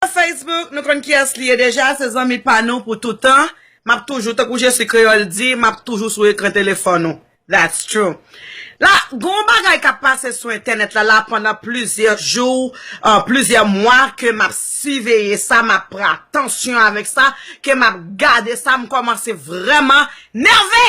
Nan Facebook, nou konn kiyès li ye deja, se zanmi pa nou pou toutan, map toujou, tankou Jesi Kreyòl di, map toujou sou ekran telefòn ou. That's true. La, gen yon bagay kap pase sou entènèt la la pandan plizyè jou, plizyè mwa ke map siveye sa, map pran atansyon avèk sa, ke map gade sa, m kòmanse vrèman nève!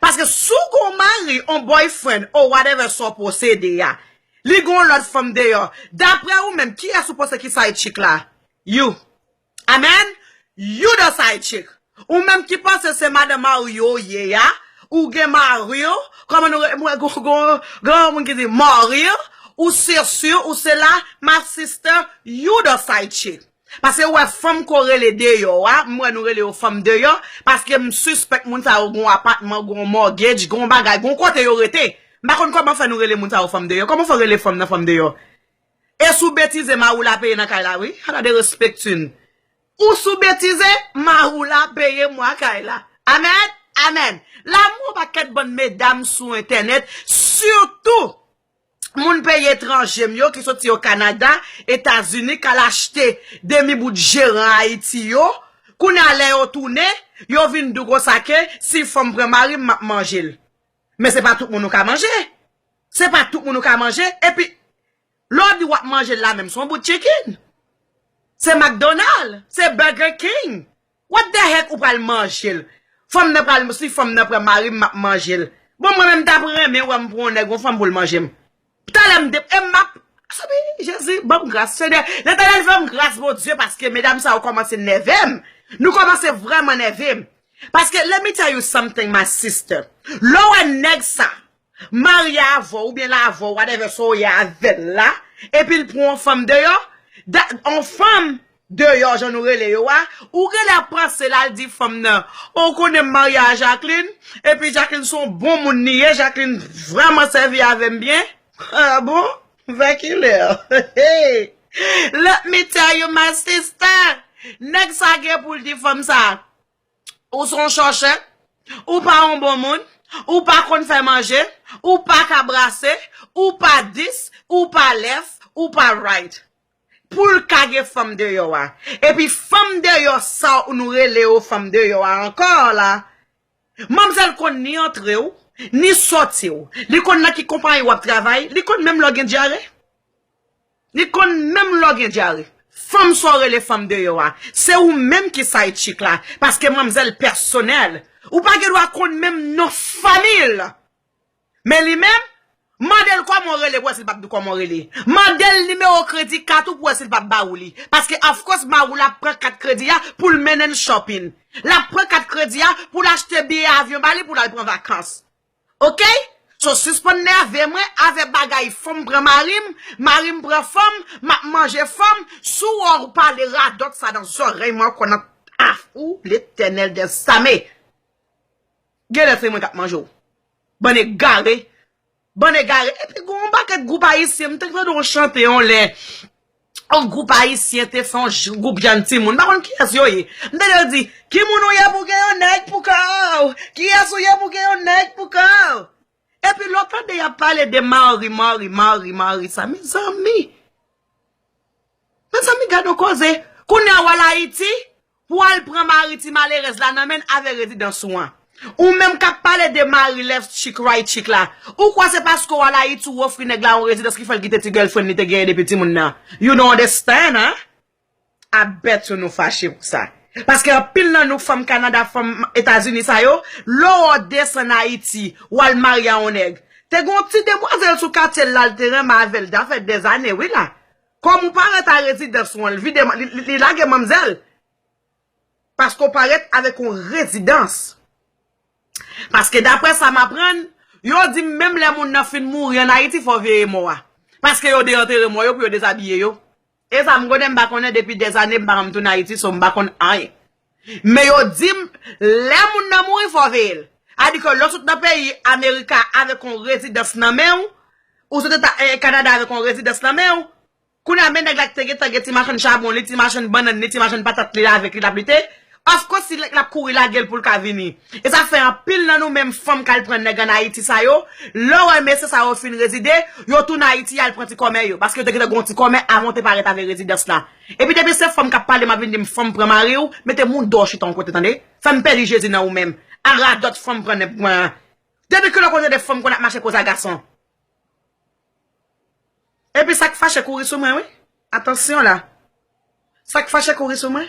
Paske si w gon mari on boyfriend or whatever sa w posede a li gon lot fanm deyò daprè ou menm kiyès ou panse ki side chick la you Amen you the side chick ou menm ki panse se madan mari w ou ye a ou gen mari w kòman nou mwen gon yon moun ki di mari w ou se si w ou se la my sister you the side chick. Pase ou wè fanm ko rele deyò a, m wè nou rele yo fanm deyò, paske m sispèk moun sa yo gon apatman, gon mortgage, gon bagay, gon kote yo rete. M pa konn kòman fè nou rele moun sa yo fanm deyò. Kòman fè w rele fanm nan fanm deyò? E sou betize Maroula peye nan kay la wi. Hala de respectune. Ou sou betize Maroula peye mwa kay la. Amen! Amen! Lanmou pa ket bann medam sou entènèt, sitou moun peyi etranje m yo ki soti o Kanada, Etazini k al achte demi bout jeran Ayiti yo, kounye a lè yo tounen, yo vin di w konsa ke si fò m pran mari m m ap manje l. Men se pa tout moun ou ka manje. Se pa tout moun ou ka manje. Epi, lè w di w ap manje l la menm, se yon bout chicken. Se McDonald, se Burger King. What the heck ou pral manjel. Fanm nan pral si fanm nan pran marim map manjel. Bon mwen menm mtap renmen wèm pran yon nèg yon fanm poul manjem. Talè mde em map Soubi jezi banm gras senyè letènèl fèm gras bondye paske medam sa yo kòmanse nèvem nou kòmanse vrèman nèvem paske let me tell you something my sister lè ou wè nèg sa Marye avèw oubyen l avèw whatever sa w ye avèl la epi l pran yon fanm deyò dat yon fanm deyò jan nou rele yo a ou genlè ap panse l al di fanm nan o w konnen m marye a Jacqueline epi Jacqueline son bon moun li ye Jacqueline vrèman sèvi avè m byen ah bon vè kilè hee let me tell you my sister nèg sa gen pou l di fanm sa Ou se yon chòche, ou pa yon bon moun, ou pa konn fè manje, ou pa ka brase, ou pa dis, ou pa lèf, ou pa rayt. Pou l ka gen fanm deyò a. Epi fanm deyò sa w nou rele yo fanm deyò a ankò la, manmzèl konn ni antre w, ni sòti w. Li konn nan ki konpayi w ap travay, li konn menm lè w gen dyare. Li konn menm lè w gen dyare. Fanm sa w rele fanm deyò a, se ou menm ki side chick la, paske manmzèl pèsonèl, ou pa gen dwa konn menm non fanmi l. Men li menm, mande l kòman w rele pou wè si l pap di w kòman w rele. Mande l nimewo kredi kat ou pou wè si l pap ba ou li. Paske of course Maroula ap pran kat kredi a pou l mennen l shopping. L ap pran kat kredi a pou l achte biyè avyon ba li pou l al pran vakans. Ok so sispann nève mwen avè bagay fanm pran marim marim pran fanm map manje fanm sou wè ou pale radòt sa nan zòrèy mwen ankò nan ah ou letènèl des ame genlè se mwen kap manje ou bann egare bann egare epi gon paket gwoup ayisyen m te tande yon chante yon lè. yon gwoup ayisyen te fè yon gwoup jèn timoun, m pa konn kiyès yo ye, m tande yo di, ki moun ou ye pou w gen yon nèg pou kò w, kiyès ou ye pou w gen yon nèg pou kò w. Epi lè w tande y ap pale de mari, mari, mari, mari sa, mezanmi! Mezanmi gad yon koze! Kounye a w al Ayiti, Pou al pran mari ti malerèz la nan menn avè rezidans ou an. Ou menm kap pale de mari left chick right chick la. Ou kwè se paske ou al Ayiti ou ofri nèg la yon rezidans ki fèl kite ti girlfriend li te genyen depi timoun nan. You don't understand hein. I bet you nou fache pou sa. Paske anpil nan nou fanm Canada fanm Etazini sa yo, lè ou desann Ayiti, ou al marye a yon nèg. Te gen yon ti demwazèl sou katye l la li te renmen avè l da fè dèzane wi la. Kòm ou parèt a rezidans ou an, li vide, li lage manmzèl. Paske ou parèt avèk yon rezidans. Paske daprè sa m aprann, yo di m menm lè moun nan fin mouri an Ayiti fò w veye mò a. Paske yo deantere mò yo pou yo dezabiye yo. E sa m konnen m pa konnen depi dèzane m pa janm tounen Ayiti so m pa konn anyen. Men yo dim lè moun nan mouri fò veyel. A di ke lè w sot nan peyi America avek yon rezidans nan men w, ou sot eta Canada avek yon rezidans nan men w, kounye a men nèg la ki te gentan gen ti machann chabon li, ti machann bannann li, ti machann patat li avek li lap lite, of course se lap kouri lagel poul ka vini. E sa fè anpil nan nou menm fanm kal pran nèg an Ayiti sa yo, lè w wè mesye sa yo fin rezide, yo tounen Ayiti yal pran ti kòmè yo, paske yo te gentan gen yon ti kòmè avan yo te parèt avek rezidans la. Epi depi se fanm kap pale map vin dim fanm pran mariw mete moudòw chita yon kote tande fèm pèdi jezi nan ou menm a radòt fanm pran nèg pran an depi kilè ou konn tande fanm konn ap mache koz a gason epi sak fache kouri sou mwen wi atansyon la sak fache kouri sou mwen.